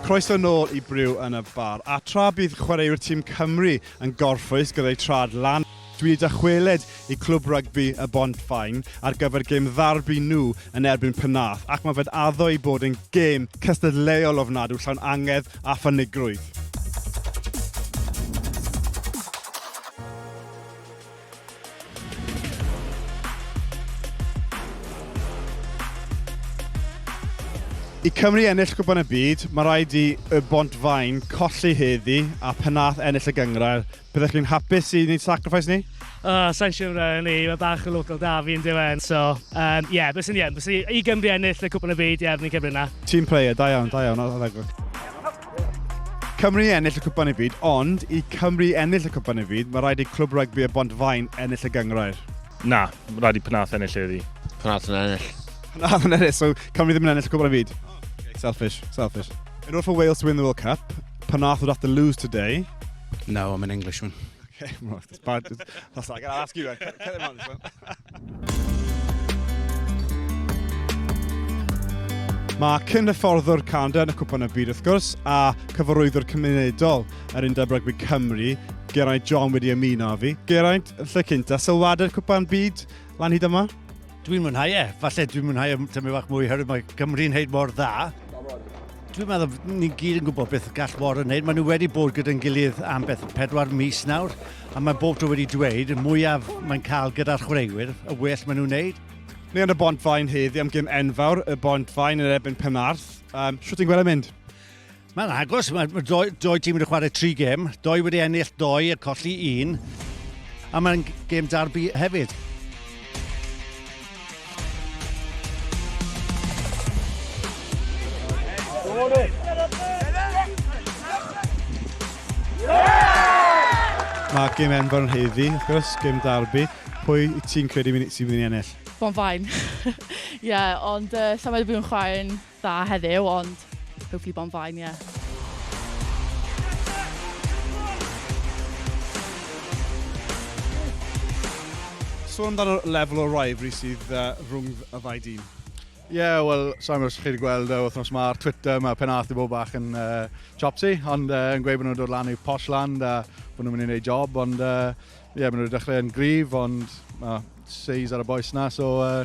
Croeso nôl i Briw yn y Bar. A tra bydd chwaraewr tîm Cymru yn gorffwys gyda'i trad lan, dwi wedi dychwelyd i Clwb Rygbi y Bont Faen ar gyfer gêm ddarbi nhw yn erbyn Penarth ac mae fe'n addo i bod yn gêm cystadleuol ofnadw llawn angerdd a ffynigrwydd. I Cymru ennill Gwpan y Byd, mae rhaid i y Bont Fain colli heddi a penath ennill y gyngrair. Byddech chi'n hapus i wneud sacrifice ni? Uh, Sa'n siwr uh, ni, mae bach o local da fi yn diwen. So, um, yeah, bys yn iawn. Bys i Gymru ennill y Cwpan y Byd, ie, yeah, ni'n cymru yna. Team player, da iawn, da iawn. Cymru ennill y Cwpan i fyd, ond i Cymru ennill y Cwpan i fyd, mae rhaid i Clwb Rygbi y Bont Fain ennill y gyngrair. Na, mae rhaid i Pnath ennill iddi. Pnath yn ennill. Pnath yn ennill, so Cymru ddim yn ennill y Cwpan i fyd. Selfish, selfish. In order for Wales to win the World Cup, Pnath would have to lose today. No, I'm an Englishman. Okay, But that's like, I'll ask you then. Cut them out this one. Mae cynnyfforddwr Canada yn y cwpan y byd wrth gwrs a cyfarwyddwr cymunedol yr Undeb Rygbi Cymru, Geraint John wedi ymuno â fi. Geraint, lle cynta, sylwadau'r cwpan byd lan hyd yma? Dwi'n mwynhau e. Falle dwi'n mwynhau e tymau fach mwy herwydd mae Cymru'n heid mor dda. Dwi'n meddwl ni'n gyd yn gwybod beth gall Warren yn neud. Mae nhw wedi bod gyda'n gilydd am beth pedwar mis nawr. A mae bob tro wedi dweud, y mwyaf mae'n cael gyda'r chwaraewyr, y well maen nhw'n neud. Ni yn y bont fain heddi am gym enfawr, y bont fain yn erbyn Penarth. Um, Siwt ti'n gweld e'n mynd? Mae'n agos, mae doi, doi tîm wedi chwarae tri gêm, doi wedi ennill doi a colli un, a mae'n gêm darbu hefyd. Mae gêm enfawr yn heiddi, wrth gwrs, gêm darbu. Pwy ti'n credu sy'n mynd i ennill? Bo'n fain. Ie, yeah, ond uh, sa'n meddwl bod yn chwaen dda heddiw ond hopefully bo'n fine yeah. Sôn amdano'r lefel o rivalry sydd uh, rhwng y ddau dîm. Ie, yeah, wel, sa'n gwrs chi wedi gweld uh, wythnos yma ar Twitter, mae Penath i bod bach yn uh, chopsy, ond uh, yn gweud bod nhw'n dod lan i posh land a bod nhw'n mynd i wneud job, ond ie, uh, yeah, maen nhw wedi dechrau yn grif, ond uh, seis ar y boes na, so uh,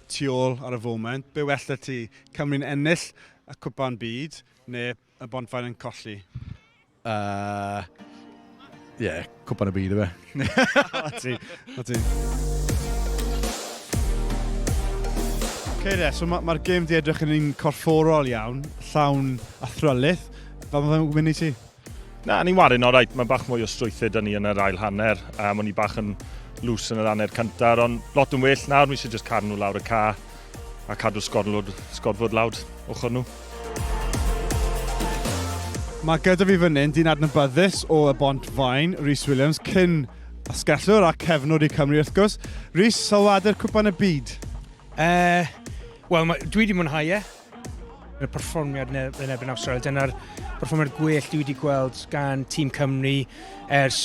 tu ôl ar y foment, be well 'da ti, Cymru'n ennill y Cwpan Byd neu y Bontfaen yn colli? Uh, Ie, yeah, Cwpan y Byd efe. Na ti, na ti. Okay, de, so mae'r ma gêm di edrych yn un corfforol iawn, llawn a thrylith. Fel mae'n mynd i ti? Na, ni'n warin orau. Mae bach mwy o strwythyd yn ni yn yr ail hanner. Um, o'n i bach yn lws yn yr hanner cyntaf, ond lot yn well nawr. Mi eisiau just cadw nhw lawr y ca a cadw sgorlwd, sgorfod lawr ochr nhw. Mae gyda fi fan hyn dyn adnabyddus o y Bont Fain, Rhys Williams, cyn asgellwr a cefnwr i Cymru wrth gwrs. Rhys, sylwadau'r cwpan y byd? Uh, Wel, dwi wedi mwynhau e. y perfformiad yn e- erbyn Awstralia. Dyna'r perfformiad gwell dwi wedi gweld gan tîm Cymru ers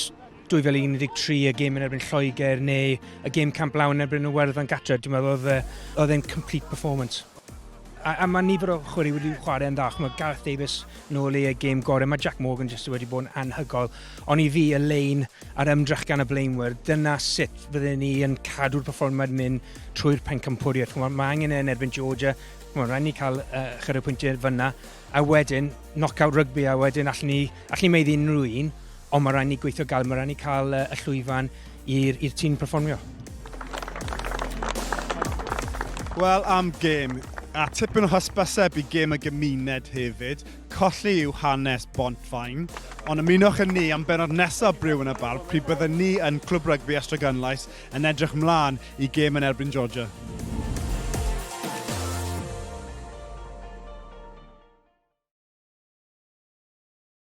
2013 y gêm yn erbyn Lloegr neu y gêm camp lawn yn erbyn y Werddon Gatra. Dwi'n meddwl oedd e, oedd e'n complete performance. A, a mae nifer o chwarae wedi chwarae yn dda. Mae Gareth Davies nôl i y gêm gorau. Mae Jack Morgan jyst wedi bod yn anhygol. Ond i fi, y lein a'r ymdrech gan y blaenwyr, dyna sut fydden ni yn cadw'r perfformiad mynd trwy'r pencampwriaeth. Mae angen e yn erbyn Georgia, Chimod, rhaid ni cael uh, chyr y pwyntiau fyna, a wedyn knock-out rygbi, a wedyn allan ni, allan ni meiddi unrhyw un, ond mae rhaid ni gweithio gael, mae rhaid ni cael uh, y llwyfan i'r tîm performio. Wel, am gêm, a tipyn o hysbyseb i gêm y gymuned hefyd, colli yw hanes Bontfaen, ond ymunwch yn ni am benod nesaf briw yn y bar, pryd byddwn ni yn Clwb Rygbi Astrogynlais Yn edrych 'mlân i gêm yn erbyn Georgia.